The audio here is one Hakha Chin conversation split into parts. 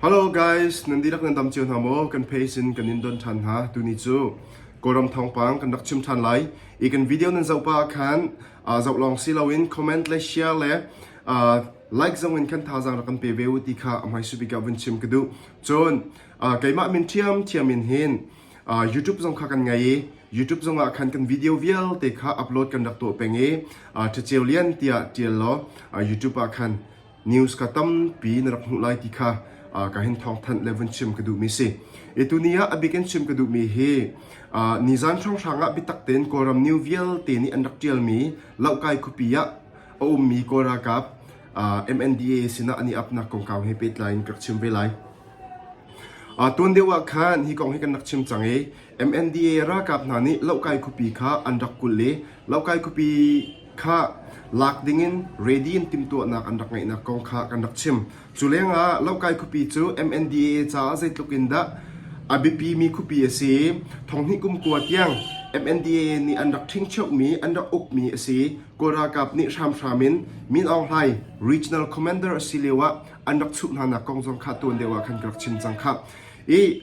Hello guys, nan dihlak nan dam cio hna maw? Kan page in kan in don ṭhan hna. Tuni cu Kawlram thawngpang kan rak chim ṭhan lai. I kan video nan zoh pah ah khan uh, zoh lawng si loin comment le share le uh, like zong in khan thazang rak kan pe ve u ti kha amai subika vun chim ka duh. Cun uh, keimah min thiam thiam in hin uh, YouTube zong kha kan ngai i YouTube zong ah khan kan video vialte kha upload kan rak tuah peng i uh, ṭhaceu lian tiah ṭial law uh, YouTube ah khan news ka tampi na rak hmuh lai ti kha ka hin thawngthanh le vun chim ka duhmi si i tuni ah a bik in chim ka duhmi hi nizan hrawnghrang ah biatak tein kawlram new vialte nih an rak ṭialmi lohkai khupi ah a ummi kawl ralkap MNDA sinah an i apnak kongkau he pehtlai in ka rak chim ve lai. Tuan deuh ah khan hi kong hi kan rak chim cang i MNDA ralkap hna nih Lokai khuapi kha an rak kulh i Lokai khuapi kha lak dingin ready in timhtuahnak an rak ngeihnak kong kha kan rak chim. Cu lengah Lokai khuapi cu MNDA caah zeitluk in dah a biapimi khuapi a si i thonghnih kumkua tiang MNDA nih an rak ṭhingcheuhmi an rak ukmi a si i Kawl ralkap nih hramhram in Min Aung Hlaing regional commander a si lio ah an rak chuh hnanak kong zong kha tuan deuh ah khan ka rak chim cang khah. I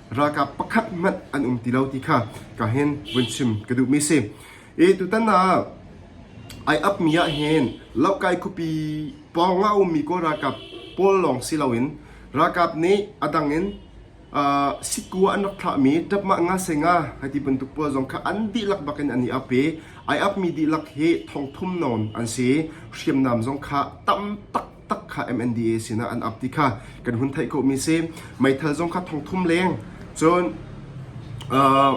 ralkap pakhat hmanh an um ti lo ti kha ka hen vun chim ka duhmi si. I tutan ah ai apmi ah hin Lokai khupi pawng ah a ummi Kawl ralkap pawl lawng si loin ralkap nih a dang in uh, sikua an rak thlahmi tapmah nga se nga hai ti bantuk pawl zong kha an dihlak bak in an i ap i ai apmi dihlak hi thongthum non an si hriamnam zong kha tam tak tak kha MNDA sinah an ap ti kha kan hun theih khawhmi si meithal zong kha thongthum leng cun uh,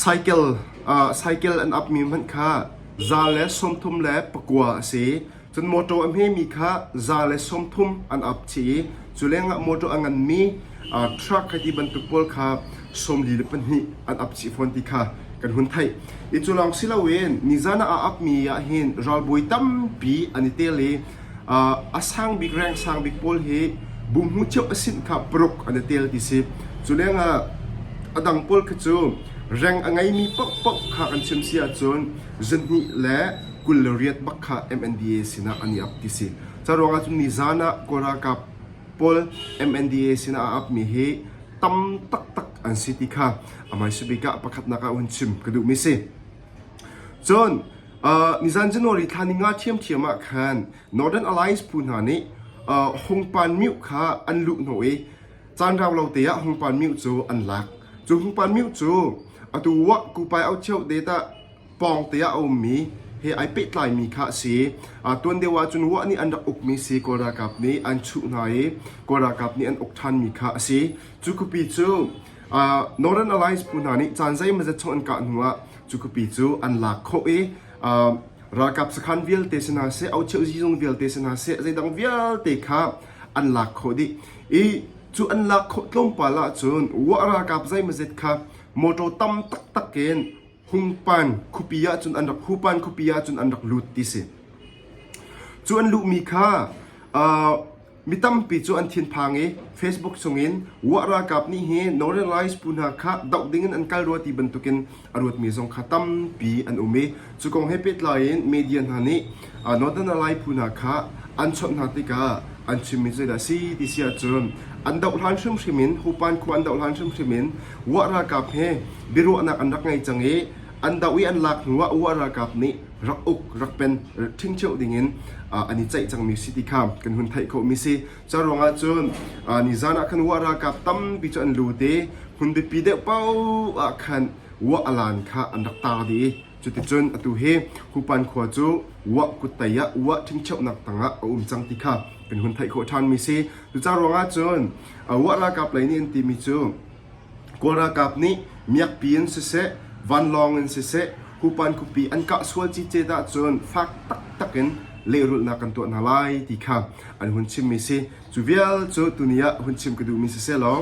cycle uh, cycle an ap mi hmanh kha za le sawmthum le pakua a si cun motor a hme mi kha za le sawmthum an ap chi cu lengah motor a ngan mi Truck hei ti bantuk pawl kha sawmli le pahnih an ap chih fawn ti kha kan hun theih. I cu lawng si loin nizan ah a apmi ahhin ralbawi tampi an i tel i ah, a sang bik reng sang bik pawl hi bum hmu cio a sinh kha paruk an i tel ti si. Cu lengah a dang pawl khi cu reng a ngeimi paohpaoh kha kan chim si ahcun zahnih le kul le riat bak kha MNDA sinah an i ap ti si. Cu ruangah cun nizan ah Kawl ralkap pawl MNDA sinah a apmi hi tam taktak an si ti kha a hmaisabik ah pakhatnak ah hun chim ka duhmi si. Cun, uh, nizan January thla ni nga thiamthiam ah khan Northern Alliance phu hna nih uh, hongpan miu kha an luh no i caan rau lo te ah hongpan miu cu an lak. Cu hongpan miu cu atu wa kupai au cheu te ta pawngte ah a ummi he ai pehtlaimi kha a si. tuan deuh ahcun Ruah nih an rak ukmi si Kawl ralkap nih an chuh hna i Kawl ralkap nih an uk ṭhanmi kha a si. Cu kupi cu Northern Alliance phu hna nih caan zeimazat chung an kah hnu ah cu kupi cu an lak khawh i ralkap sakhan vialte si hna seh, aucheu zizung vialte si hna seh, zeidang vialte kha an lak khawh dih. I cu an lak khawh tlawmpal ahcun Ruah ralkap zeimazet kha motor tam taktak in Hungpan khupi ahcun an rak hupan khupi ahcun an rak lut ti si. Cu an luhmi kha uh, mi tampi cu an thinphang i Facebook chungin Wah Ralkap nih hi Northernlies phu hna kha doh dingin an kal rua ti bantukin a ruatmi zong kha tampi an um i cu kong he pehtlai in media hna nih London ah lai phu hna kha an chawnh hna tikah an chimmi zeidah a si ti si ahcun an doh hlan hrimhrim in Hupan khua an doh hlan hrimhrim in Wah ralkap he biaruahnak an rak ngei cang i an doh i an lak hnu ah Wah ralkap nih rak uk rak pen ṭhingcheu dingin an i ceih cangmi si ti kha kan hun theih khawhmi si cu ruangah cun nizan ah khan Wah ralkap tampi cu an lut i hmun biapi deuh paoh ah khan Wah alan kha an rak tar dih i Cuticun atu hi Hupan khua cu Wah kut tei ah Wah ṭhingcheuhnak tangah a um cang ti kha kan hun theih khawh ṭhanmi si. Cucaah ruangah cun Wah ralkap lei nih an timi cu Kawl ralkap nih miakpi in siseh, vanlawng in siseh Hupan khuapi an kah sual cice dah cun fak taktak in lehrulhnak kan tuah hna lai ti kha an hun chimmi si. Cu vial cu tuni ah hun chim ka duhmi si sehlaw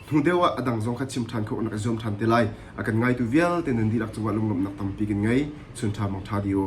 Hnu deuh ah a dang zong kha chim ṭhan kha rak i zuam ṭhan te lai. A kan ngaitu vialte nan dihlak cungah lunglawmhnak tampi kan ngei. Chun ṭha mong ṭha dih u.